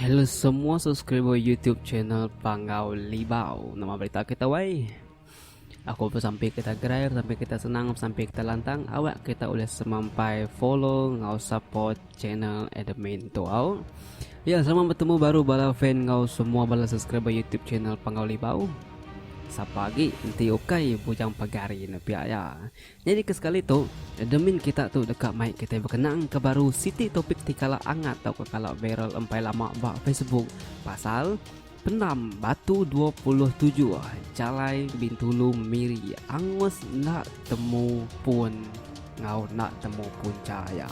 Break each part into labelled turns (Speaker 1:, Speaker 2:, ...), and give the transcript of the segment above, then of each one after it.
Speaker 1: Hello semua subscriber YouTube channel Panggau Libau. Nama berita kita wai? Aku pesampi kita gerai, pesampi kita senang, pesampi kita lantang. Awak kita boleh semampai follow ngau support channel admin tu au. Ya, selamat bertemu baru bala fan ngau semua bala subscriber YouTube channel Panggau Libau. Sapa lagi enti ukai bujang pagari ni pia ya. Jadi ke sekali tu, admin kita tu deka mai kita berkenang ke baru siti topik ti kala angat tau ke kala viral empai lama ba Facebook pasal Penam Batu dua puluh tujuh, Jalai Bintulu Miri angus enda temu pun enggau enda temu punca iya.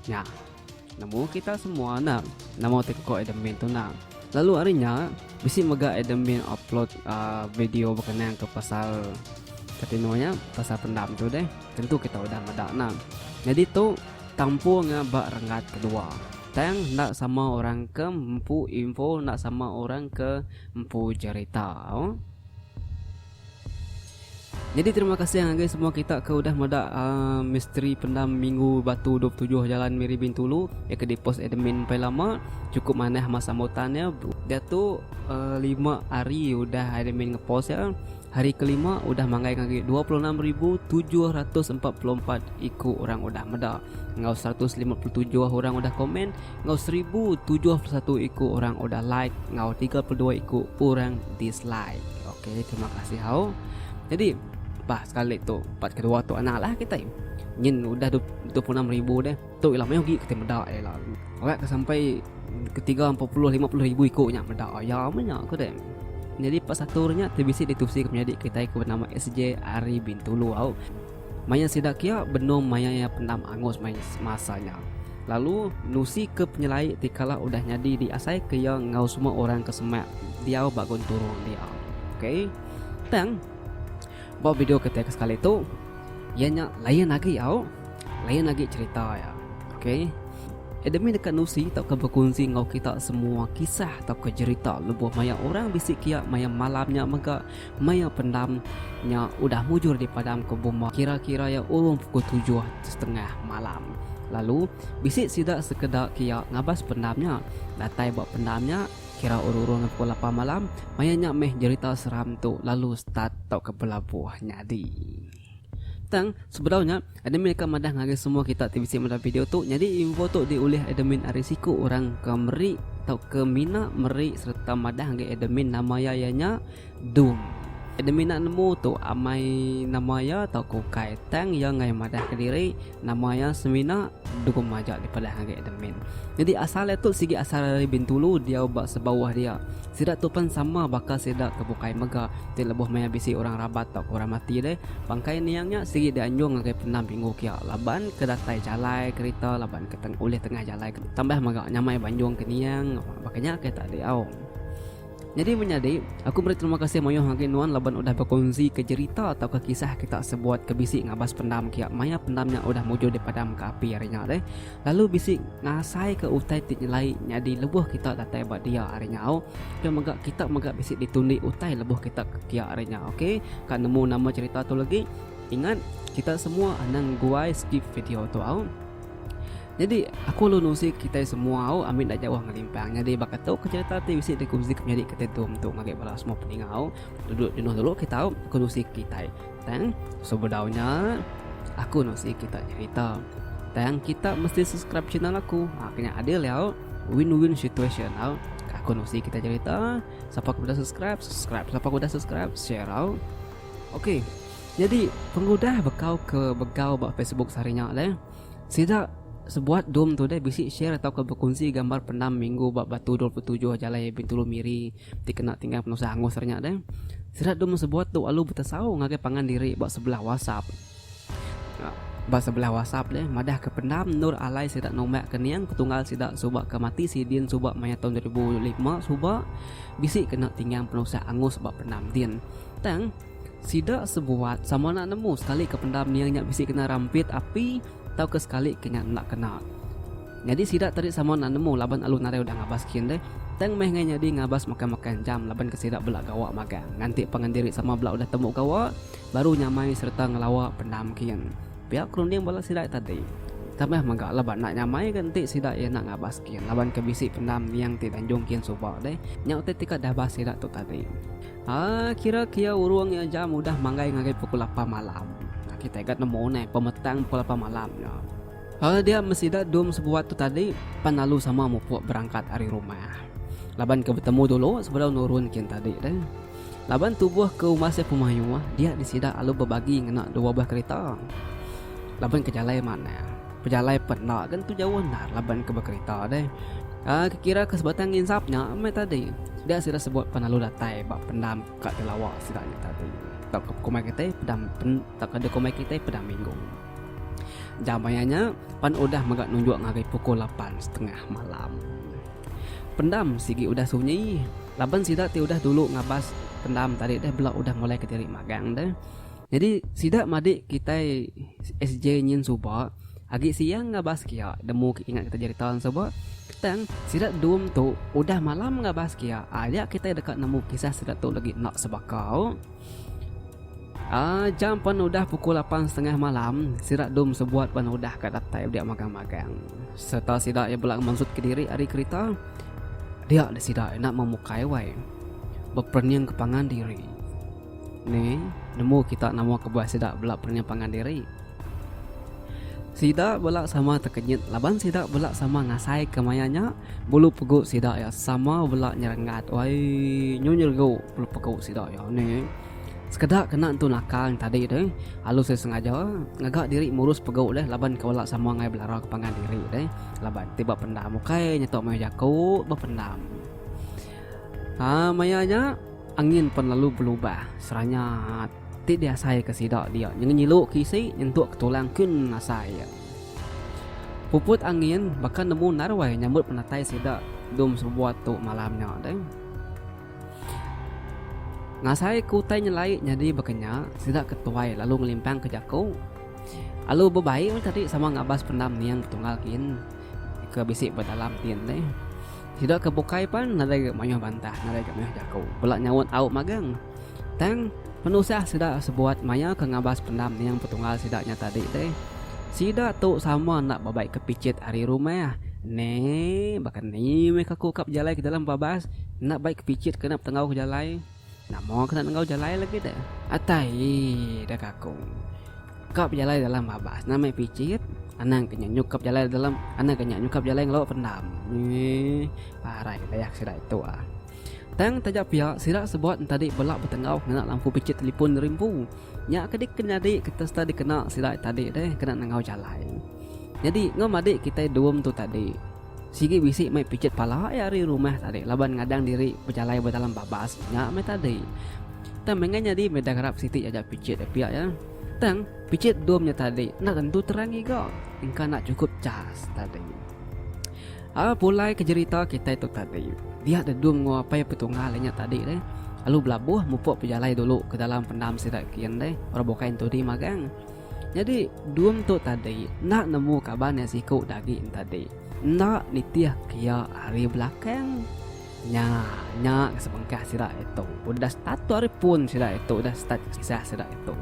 Speaker 1: Nya. Nemu kita semua enda nama tiko admin tu enda. Lalu ari nya bisi mega admin upload video bekenang ke pasal ketino nya pasal pendam tu deh. Tentu kita udah meda enda. Nyadi tu tampur enggau ba renggat kedua. Tang enda sama orang ke empu info enda sama orang ke empu jerita. Nyadi terima kasih ngagai semua kita ke udah meda uh, misteri pendam minggu batu 27 jalan Miri Bintulu ya ke dipos admin pai lama cukup manah masa sambutan ya dia tu uh, lima hari udah admin ngepost ya Hari kelima udah manggai ngagai dua puluh enam ribu tujuh ratus empat puluh empat iku orang udah meda, enggau seratus lima puluh tujuh orang udah komen, enggau seribu tujuh puluh satu iku orang udah like, enggau tiga puluh dua iku orang dislike. Okey, terima kasih hau. Jadi, bah sekali tu, part kedua tu anaklah kitai. Nyin udah dua puluh enam ribu deh. Tu ila meh ugi kitai meda iya ila. Orat ke sampai ke tiga empat puluh lima puluh ribu iko nya meda iya meh nya ko deh. Nyadi pa satu nya ti bisi ditusi penyadi kitai ko benama SJ ari Bintulu au. Maya sida kia benung maya iya pendam angus mai semasa nya. Lalu nusi ke penyelai ti kala udah nyadi di asai ke iya enggau semua orang ke semak diau ba gunturung dia. Okay. Tang. Ba video kitai ke sekali tu. Iya nya lain agi au. Lain agi cerita iya. Okey. Admin deka nusi tauka bekunsi enggau kita semua kisah tauka jerita lebuh maya orang bisi kia maya malam nya mega maya pendam nya udah mujur dipadamka buma kira-kira iya urung pukul tujuh setengah malam. Lalu, bisi sida sekeda kia ngabas pendam nya. Datai ba pendam nya, Kira urung-urung pukul lapan malam, maya nya meh jerita seram tu lalu start tauka belabuh nyadi. Tang, sebedau nya, admin deka madah ngagai semua kita ti bisi madah video tu, nyadi info tu diulih admin ari siku orang ke meri tauka mina meri sereta madah ngagai admin nama iya iya nya Doom. Admin enda nemu tu amai nama iya tauka ukai, tang iya enggai madahka diri. Nama iya semina dukung majak dipelah ngagai Adam Min. Nyadi asal iya tu sigi asal ari Bintulu diau ba sebauh dia. Sida tu pen sama baka sida ke bukai mega ti lebuh maya bisi orang rabat tauka orang mati deh. Bangkai niang nya sigi dianjung ngagai penam pinggu kia laban ke datai jalai kerita laban ke ulih tengah jalai tambah mega nyamai banjung ke niang baka nya ke tadi au. Nyadi menyadi, aku meri terima kasih mayuh agi nuan laban udah bekonnsika jerita tauka kisah kita sebuat ke bisi ngabas pendam kia maya pendam nya udah mujur dipadamka api ari nya deh lalu bisi ngasaika utai ti nyelai nyadi lebuh kita datai ba dia ari nyau ke mega kita mega bisi ditundi utai lebuh kita ke kia ari nya ok ka nemu nama jerita tu legi ingat kita semua anang guai skip video tu au. Nyadi aku lalu nusi kitai semua au ambi enda jauh ngelimpang. Nyadi baka tu ke cerita ti bisi dikuzi ke menyadi kitai tu entu ngagai bala semua peningau. Duduk jenuh dulu kita aku nusi kitai. Tang sebedau nya aku nusi kita nyerita. Tang kita mesti subscribe channel aku. Ha kenya adil ya au. Win-win situation au. Aku nusi kita cerita. Siapa ke udah subscribe, subscribe. Siapa ke udah subscribe, share au. Okey. Nyadi pengudah bekau ke begau ba Facebook sehari nya le. Sida sebuat dom tu deh bisi share tauka bekunsi gambar penam minggu ba Batu dua puluh tujuh Jalai Bintulu Miri ti kena tinggal penusah angus ari nya deh. Sida dom sebuat tu alu betesau ngagai pangan diri ba sebelah WhatsApp ba sebelah WhatsApp deh madahka penam endur alai sida nombak ke niang petunggal sida suba ke mati sidin suba maya taun dua ribu lima suba bisi kena tinggal penusah angus ba penam din tang Sida sebuat sama enda nemu sekalika pendam nia nya bisi kena rampit api tauka sekalika nya enda kena. Nyadi sida tadi sama enda nemu laban alu nadai udah ngabas kin deh. Tang meh ngai nyadi ngabas makan-makan jam laban ke sida bela gawa magang nganti pangan diri sama bela udah temu gawa baru nyamai sereta ngelawa pendam kin. Pia ke runding bala sida tadi. Tambah mega laban enda nyamai ga enti sida iya enda ngabas kin laban ke bisi pendam niang ti danjung kin suba deh. Nya utai ti ka dabas sida tu tadi. Kira kia urung nya jam udah manggai ngagai pukul lapan malam. Kitai ga nemu neh pemetang pukul lapan malam nya. Hal dia meh sida dum sebuat tu tadi pan lalu sama mupuk berangkat ari rumah. Laban ke betemu dulu sebedau nurun kin tadi deh. Laban tubuh ke umas iya pemayuh, dia di sida alu bebagi ngena dua buah kerita. Laban ke jalai manah, Pejalai pet enda ke nentu jauh endar laban ke bekerita deh. Uh, kekira ke sebatang insap nya mai tadi. Dia sida sebut penalu datai ba pendam ka telawa sida nya tadi. Tak ke kumai kita pedam pen, tak ke kumai kita pedam minggu. Jam ayahnya pan udah mega nunjuk ngagai pukul 8 setengah malam. Pendam sigi udah sunyi. Laban sida ti udah dulu ngabas pendam tadi deh bela udah mulai kediri magang deh. Nyadi sida madik kitai SJ nyin suba agi siang ngabas kia nemu ke ingat kita jerita nyin suba tang sida dum tu udah malam ngabas kia aya kitai deka nemu kisah sida tu legi enda sebakau. Aa jam pen udah pukul lapan setengah malam sida dum sebuat pen udah ka datai udah magang-magang serta sida iya bela mensut kediri ari kerita dia sida enda memukai wai beperening ke pangan diri. Ni nemu kita nama kebuah sida bela perengah pangan diri? Sida bela sama tekenyit laban sida bela sama ngasaika maya nya bulu pegu sida iya sama bela nyerengat wai nyu nyeregu bulu pegu sida iya ni sekeda kena entu naka yang tadi deh alu seh sengaja ngaga diri murus pegu deh laban ke bela sama ngai belara ke pangan diri deh laban ti ba pendam ukai nyetok meh jaku ba pendam. Haa maya nya. Angin pen lalu belubah seranya ti diasai ke sida dia nyengilu ke isi nyentuk ke tulang kin asai ia. Puput angin baka nemu naruai nyambut penatai sida dum sebuat tu malam nya deh. Ngasai ke utai nyelai nyadi baka nya sida ke tuai lalu ngelimpang ke jaku alu bebai meh tadi sama ngabas pendam niang betunggal kin ke bisi ba dalam tin deh. Sida ke bukai pan nadai ga mayuh bantah, nadai ga mayuh jaku. Bela nyaut au magang. Tang, penusah sida sebuat maya ke ngabas pendam niang petunggal sida nya tadi deh. Sida tu sama enda bebai ke pichit ari rumah. Ne, baka ni meh ka ku ka bejalai ke dalam babas, enda bai ke pichit kena betenggau ke jalai. Nama kena nenggau jalai lagi deh. Atai ii dah kakung. Ka bejalai dalam babas nah meh picit. Anang ke nya nyukap jalai dalam anang ke nya nyukap jalai ngelawa pendam. Eeh parai ke dayak sida itu ah. Tang taja pia sida sebuat entadi bela betenggau ngena lampu picit telipun rimpu. Nya ke dik ke nyadi ke testa dikena sida tadi deh kena nenggau jalai. Nyadi enggau madik kitai dum tu tadi. Sigi bisi mai pichet pala iya ari rumah tadi laban ngadang diri bejalai ba dalam babas nya meh tadi. Tang mengah nyadi meda garap siti aja pichet iya pia ya. Tang pichet dom nya tadi enda tentu terang ngiga engka enda chukup chas tadi. Aa pulai ke jerita kitai tu tadi. Dia dedung enggau apai petunggal inya tadi deh. Lalu belabuh mupuk bejalai dulu ke dalam pendam sida kin deh orang bukai entu di magang. Nyadi Dum tu tadi enda nemu kaban iya siku udah agi nya tadi. Enda nitih ke iya ari belakang. Nya, nya ke sebengkah sida itu. Udah start tu ari pun sida itu udah start kisah sida itu.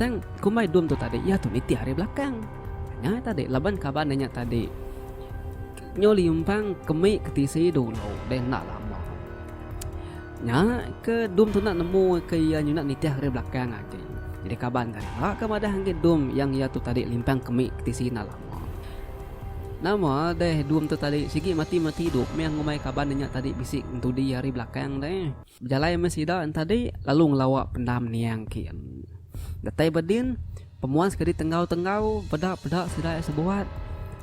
Speaker 1: Tang kumbai Dum tu tadi iya tu nitih ari belakang. Nya tadi laban kaban inya tadi nyu limpang ke mih ke tisi dulu deh enda lama. Nya ke Dum tu enda nemu ke iya nyunak nitih ari belakang agi. Nyadi kaban tadi ba ke madah enggi Dum yang iya tu tadi limpang ke mik ketisi enda lama. Nama deh Dum tu tadi sigi mati mati idup mih ngumbai kaban nya tadi bisi ngentudi ari belakang deh. Bejalai mih sida entadi lalu ngelawa pendam niang kin. Datai ba din, pemuan sekedi tenggau tenggau peda peda sida iya sebuat.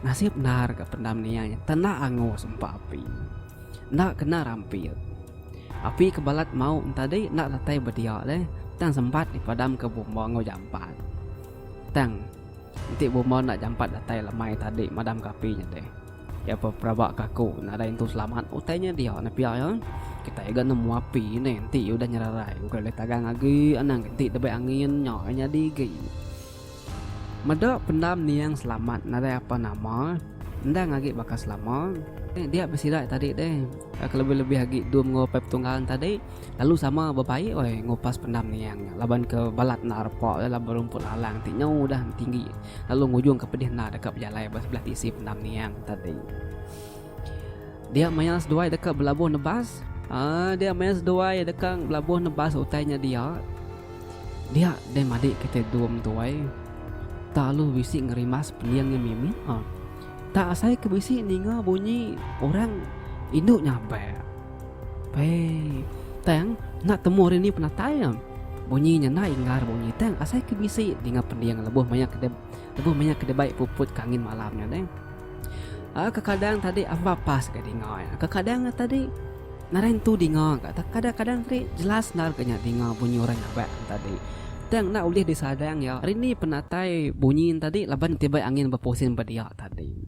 Speaker 1: Nasib endar ga pendam niang nya tenda angus empa api. enda kena rampil. Api ke balat mauk entadi enda datai bedia leh tang sempat dipadamka bomba enggau jampat. Tang, enti bomba enda jampat datai lemai tadi madamka api nya deh. Iya pun peraba ke aku nadai entu selamat utai nya dia enda pia iya. Kitai ga nemu api deh enti iya udah nyerarai bukai ulih tagang agi anang enti debei angin nya nyadi agi. Meda pendam niang selamat nadai apa nama endang agi baka selama dia besidai tadi deh kelebih-lebih agi dua menua upai petunggang tadi lalu sama bebaik oi ngupas pendam niang nya laban ke balat enda repa oi laban rumput lalang ti nyau udah tinggi lalu ngujung ke pedih enda deka bejalai ba sebelah ti isi pendam niang tadi. Dia maya seduai deka belabuh nebas uh, Dia maya seduai deka belabuh nebas utai nya dia Dia deh madi kita dum tuai Tak lu bisi ngerimas pening nya mimi uh. Tak asai ke bisi ninga bunyi orang indu nyabak Pei Tang nak temu hari ni penatai uh. Bunyi nya nak ingar bunyi tang asai ke bisi ninga pening lebuh maya kedai Lebuh maya ke dibai puput ke angin malam nya deh. Aa kekadang tadi amba pas ga dinga iya. Kekadang ga tadi nadai entu dinga ga tang kadang-kadang tadi jelas endar ga nya dinga bunyi orang nyabak nya tadi. Tang enda ulih disadang iya rindi penatai bunyi nya tadi laban ti bei angin bepusing ba dia tadi.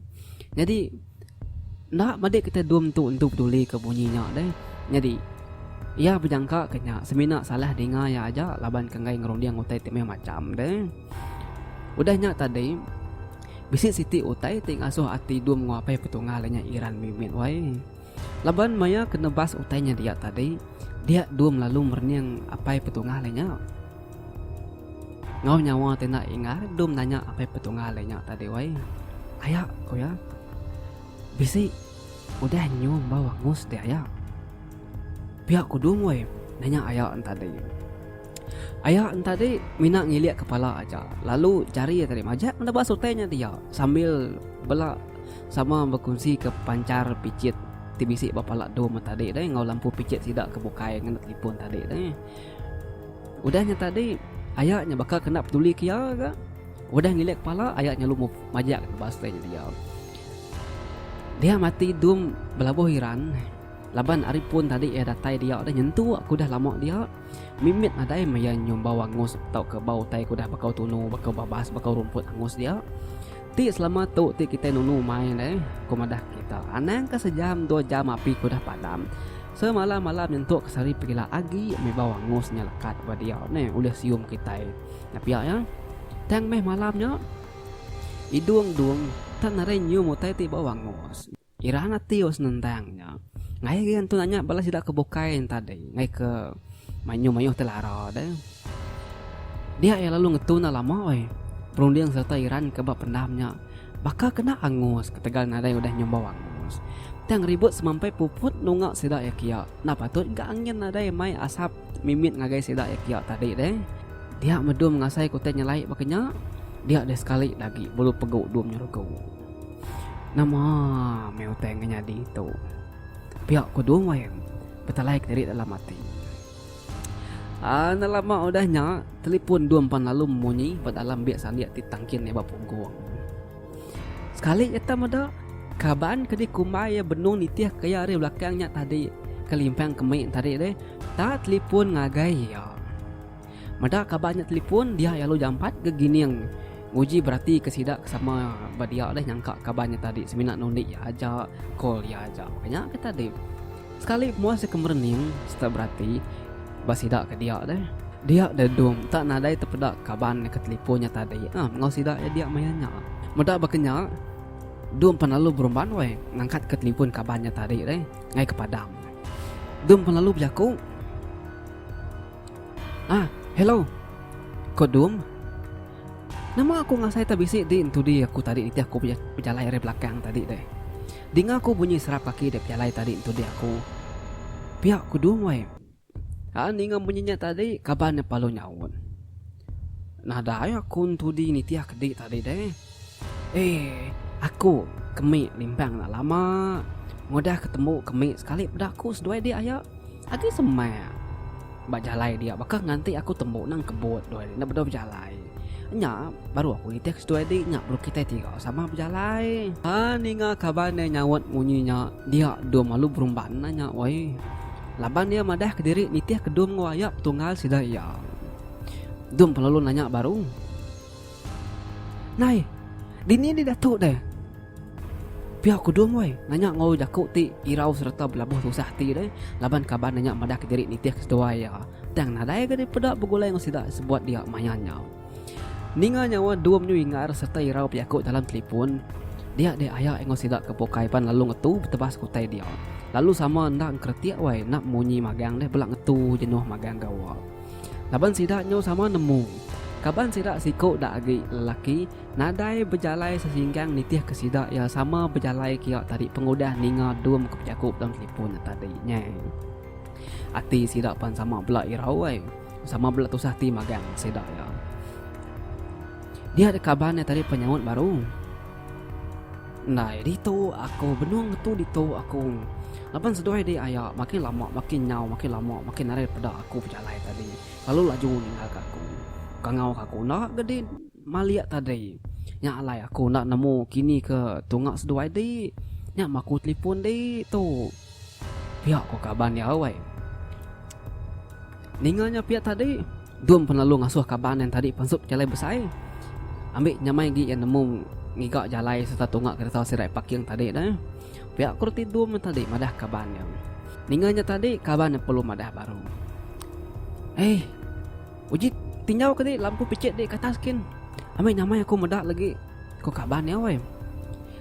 Speaker 1: Nyadi Enda medi kitai dum tu entu peduli ke bunyi nya deh. Nyadi, iya bejangka ke nya semina salah dinga iya aja laban ke enggai ngerunding utai ti meh macham deh. Udah nya tadi, bisi siti utai ti ngasuh ati dum nguapai petunggal inya Iran mimit wai. Laban maya ke nebas utai nya dia tadi, dia dum lalu merening apai petunggal inya. Enggau nyawa ti enda inggar Dum nanya apai Petunggal iya nya tadi wai. Aya, ku iya. Bisi udah nyu embau angus deh aya. Pia ku Dum wai nanya aya en tadi. Aya en tadi mina ngilik kepala aja lalu jari iya tadi majak meda ba sutai nya dia sambil bela sama bekunsi ke pancar pichit ti bisi ba pala Dum en tadi deh enggau lampu pichit sida ke bukai ngena telefon tadi deh. Udah nya tadi, aya nya baka kena peduli ke iya ga. Udah ngilik kepala, aya nya lalu majak ke ba stand dia. Dia mati dum belabuh iran laban ari pun tadi iya datai dia deh nyentu aku udah lama dia mimit nadai meh iya nyium bau angus tauka bau utai ke udah bakau tunu, bakau babas, bakau rumput angus dia. Ti selama tu ti kitai nunu mai deh, ku madah kita. Anang ka sejam dua jam api ke udah padam. Semalam-malam nyentuk ke sehari pegila agi meh bau angus nya lekat ba dia ne ulih sium kitai. Nya pia iya, tang meh malam nya Idung Dung tak narai nyium utai ti bau angus. Iran ati ba senentang nya. Ngagai agi antu nanya bala sida ke bukai ntadi ngaika mayuh-mayuh ti lara deh. Nya iya lalu ngetu enda lama ai. Perunding sereta Iran ke ba pendam nya baka ke enda angus ketegal nadai udah nyumbau angus. Tang ribut semampai puput nunga sida iya kia enda patut ga angin nadai mai asap mimit ngagai sida iya kia tadi deh. Dia medum ngasai ke utai nyelai baka nya dia deh sekali da agi bulu pegu dum nyerugu. Nama meh utai ngenyadi tu. Pia ku Dua Wain betalai kediri dalam ati. Aa enda lama udah nya, telipun Dua Empan Lalum munyi ba dalam biak sandik ti tangkin iya ba punggung. Sekali nyata meda, kaban ke dikumbai iya benung nitihka iya ari belakang nya tadi kelimpang ke mei tadi deh ta telipun ngagai iya. Meda kaban nya telipun, dia iya lalu jampat ke gining nguji beratika sida ke sama ba dia deh nyangka kaban nya tadi semina nundi iya aja, call iya aja. Nya ke tadi. Sekali pemuas deka merening sereta berati ba sida ke dia deh. Dia deh Dum enta nadai tepeda kaban deka telipon nya tadi ah enggau sida iya dia maya nya. Meda baka nya Dum pan lalu berumban weh ngangkat ka telipon kaban nya tadi deh ngai ke padang. Dum pan lalu bejaku Ah hello ko Dum. Nama aku ngasai ta bisi di entudi aku tadi nitih aku bejalai ari belakang tadi deh. Dinga ku bunyi serap kaki dek bejalai tadi entudi aku. Pia ku dung weh. Haa ninga bunyi nya tadi kaban neh palu nyaut. Nadai aku entudi nitih ke di tadi deh. Eeh aku kemi limbang enda lama ngudah ke tembu kemi sekali peda aku seduai dia aya agi semak ba jalai dia baka nganti aku tembu nang kebut duai dia enda bedau bejalai nya baru aku nitih ke seduai dia nya perlu kitai tiga sama bejalai aa ninga kaban dia nyaut munyi nya dia dom lalu berumban nah nya weh laban dia madah ke diri nitih ke dom enggau aya petunggal sida iya dom pelalu nanya baru. Nai, dini indi Datuk deh? Pia ku Dum weh, nanya ngaul jaku ti irau sereta belabuh tusah ati deh laban kaban nya nyak madahka diri nitih ke seduai iya. Tang nadai ke dipeda begulai enggau sida sebuat dia maya nya. Ninga nyawa Dum nyu ingar sereta irau pejaku dalam telipon, dia deh aya enggau sida ke bukai pan lalu ngetu betebas ke utai dia. Lalu sama enda engkeretik weh enda munyi magang deh bela ngetu jenuh magang gawa. Laban sida nyau sama nemu. Kaban sida siku da agi lelaki nadai bejalai sesinggang nitih ke sida iya sama bejalai kia tadi pengudah ninga dum ke bejaku dalam telefon tadi nya. Ati sida pan sama bela irau ai. Sama bela tusah ati magang sida iya. Dia dek kaban iya tadi penyaut baru. Ndai ditu aku benung ngetu ditu aku. Laban seduai dek aya makin lama makin nyau makin lama makin narit peda aku pejalai tadi lalu laju ninggal ka aku. Kangau ka aku enda ke dek malik tadi. Nya alai aku enda nemu kini ke tunga seduai dek. Nya maku telipon dek tu. Pia ko kaban iya awai. Ninga nya pia tadi, Dum pun lalu ngasuh kaban iya tadi pansup jalai besai. Ambi nyamai agi iya nemu ngiga jalai sereta tunga kereta sirai parking tadi deh. Pia ko reti Dum iya tadi madah kaban iya. Ninga nya tadi kaban iya perlu madah baru. Hei, uji tinjau ke di lampu picit di ke atas kin. Ambi nyamai aku meda lagi, ko kaban iya awai.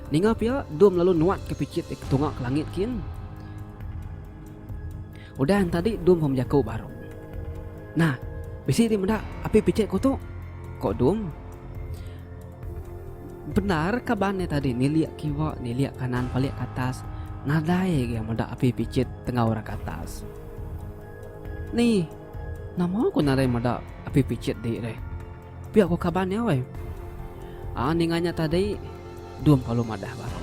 Speaker 1: Ninga pia, Dum lalu nuatka pichit iya ke tunga ke langit kin. Udah entadi Dum pun bejaku baru. Nah, bisi ti meda api pichit ku tu, ko Dum. Bendar kaban iya tadi nilik kiwa nilik kanan palik ke atas nadai ga iya meda api pichit tenggau rak ke atas. Ni, nama ku nadai meda api pichit di re? Pia ko kaban iya weh. Aa ninga nya tadi dum kalu madah baru.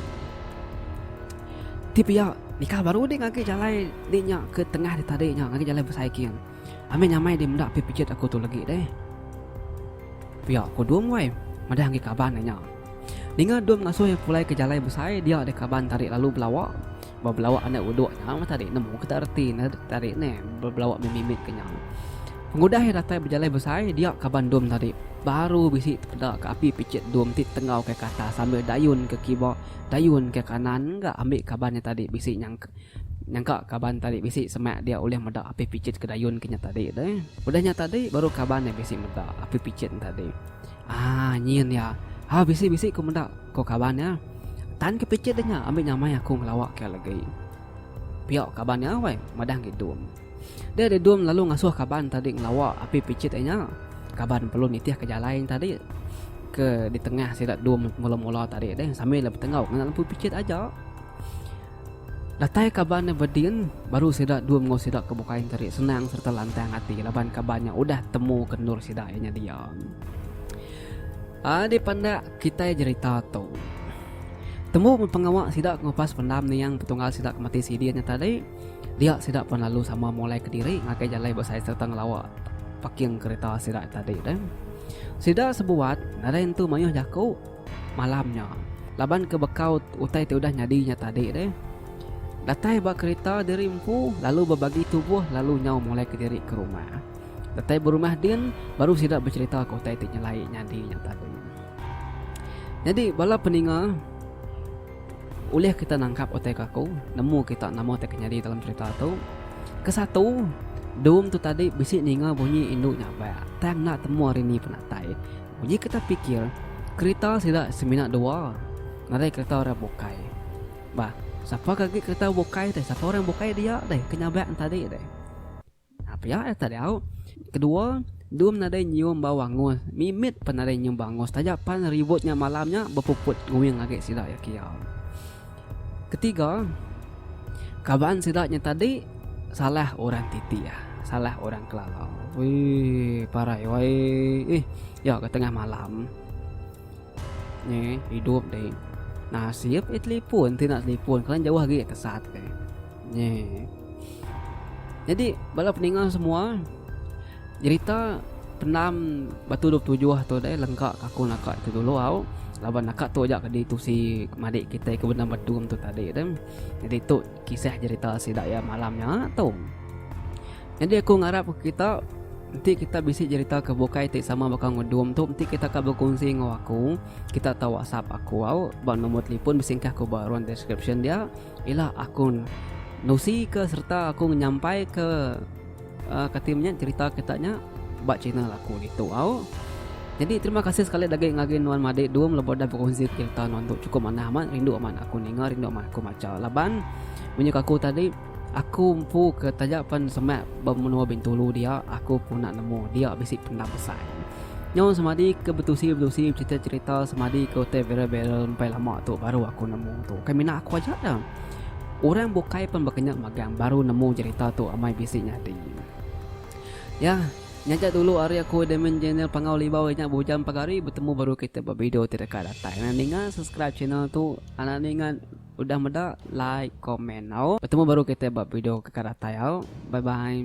Speaker 1: Ti pia nikal baru deh ngagi jalai di nya ke tengah nya tadi nya ngagi jalai besaikin. Ami nyamai deh meda pi pejit aku tu legi deh. Pia ko dum weh madah ngagi kaban iya nya. Ninga dum ngasuh iya pulai ke jalai besai dia deh kaban tadi lalu belawa. Bebelawa anak uduk nya meh tadi nemu ke tak reti ne tadi neh bebelawa meh mimit ke nya. Pengudah iya datai bejalai besai dia kaban dom tadi baru bisi peda ke api picit dom ti tenggau ke atas sambil dayun ke kiba dayun ke kanan ga ambi kaban iya tadi bisi nyangka nyangka kaban tadi bisi semak dia ulih meda api picit ke dayun ke nya tadi deh. Udah nya tadi baru kaban iya bisi meda api picit nya tadi. Ah, nyin ya. Ha bisi-bisi ku meda, ko kaban nya. Tan ke pichit deh nya ambi nyamai aku ngelawa ke legi. Pio kaban nya weh madah ngi dum. Deh deh dum lalu ngasoh kaban tadi ngelawa api pichit e nya. Kaban perlu nitih ke jalai nya tadi ke di tengah sida dum mula-mula tadi deh sambil betenggau ngena lempu pichit aja. Datai kaban nya bedin, baru sida dua enggau sida ke bukai enteri senang sereta lantang ati laban kaban nya udah temu ke endur sida iya nya dia. A dipandak kitai jerita tu. Temu meh pengawa sida ke ngupas pendam niang petunggal sida ke mati sidi nya tadi, dia sida pan lalu sama mulai kediri ngagai jalai besai sereta ngelawa paking kereta sida tadi deh. Sida sebuat nadai entu mayuh jaku. Malam nya, laban ke bekau utai ti udah nyadi nya tadi deh, datai ba kerita diri empu lalu bebagi tubuh lalu nyau mulai ke diri ke rumah. Datai ba rumah din baru sida becerita ke utai ti nyelai nyadi nya tadi. Nyadi bala peninga ulih kita nangkap utai ke aku nemu kita nama ti ke nyadi dalam cerita tu. Ke satu, Dum tu tadi bisi ninga bunyi indu nyabak tang enda temu ari ni penatai. Uji kita pikir, kerita sida semina dua ngagai kerita orang bukai. Bah, sapa ke agi kerita bukai deh, sapa orang bukai dia deh ke nyabak ne tadi deh. Ha pia yak tadi au. Kedua, dum nadai nyium bau angus, mimit pan nadai nyium bau angus taja pan ribut nya malam nya bepuput nguing agi sida yak kiau. Ketiga, kaban sida nya tadi salah orang titih, salah orang kelala. Weh, parai wai. Eh, ya ke tengah malam. Ni, hidup dek. Nasib eh telefon, ti nak telefon. Kelan jauh lagi kesat dek. Nyeh. Jadi bala peninga semua nyerita penam batu 27 tu dai lengka aku naka tu dulu au laban naka tu aja kedi tu si madik kita ke benam batu tu tadi tu. Jadi tu kisah cerita sida ya malam nya tu. Jadi aku ngarap kita enti kita bisi cerita ke bukai ti sama baka ngudum tu enti kita ka berkongsi enggau aku kita tau whatsapp aku au ba nombor telefon besingkah ku ba ruang deskripsyen dia Ila aku nusika sereta aku nyampaika kati menya cherita kita nya ba channel aku ditu au. Nyadi terima kasih sekali agi agi ngagai nuan madi dum lebuh udah berkongsi cherita nuan tu cukup manah amat rindu amat aku ninga rindu amat aku macha laban menyuk aku tadi aku empu ke taja pen semak ba menua bintulu dia aku pun enda nemu dia bisi pendam besai. Nyau semadi ke betusi-betusi becerita-cerita semadi ke hotel Vera Barrel empai lama tu baru aku nemu tu. Bukan mina aku aja dah. Orang bukai pun berkenyak magang baru nemu cerita tu amai bisi nyadi. Ya, nyaja dulu hari aku admin channel Pangau Libau inyak bujang pagari bertemu baru kita bervideo ti deka datai. Anak ninga subscribe channel tu, anak ninga Udah meda like comment au. Betemu baru kita ba video ke ka datai au. Bye bye.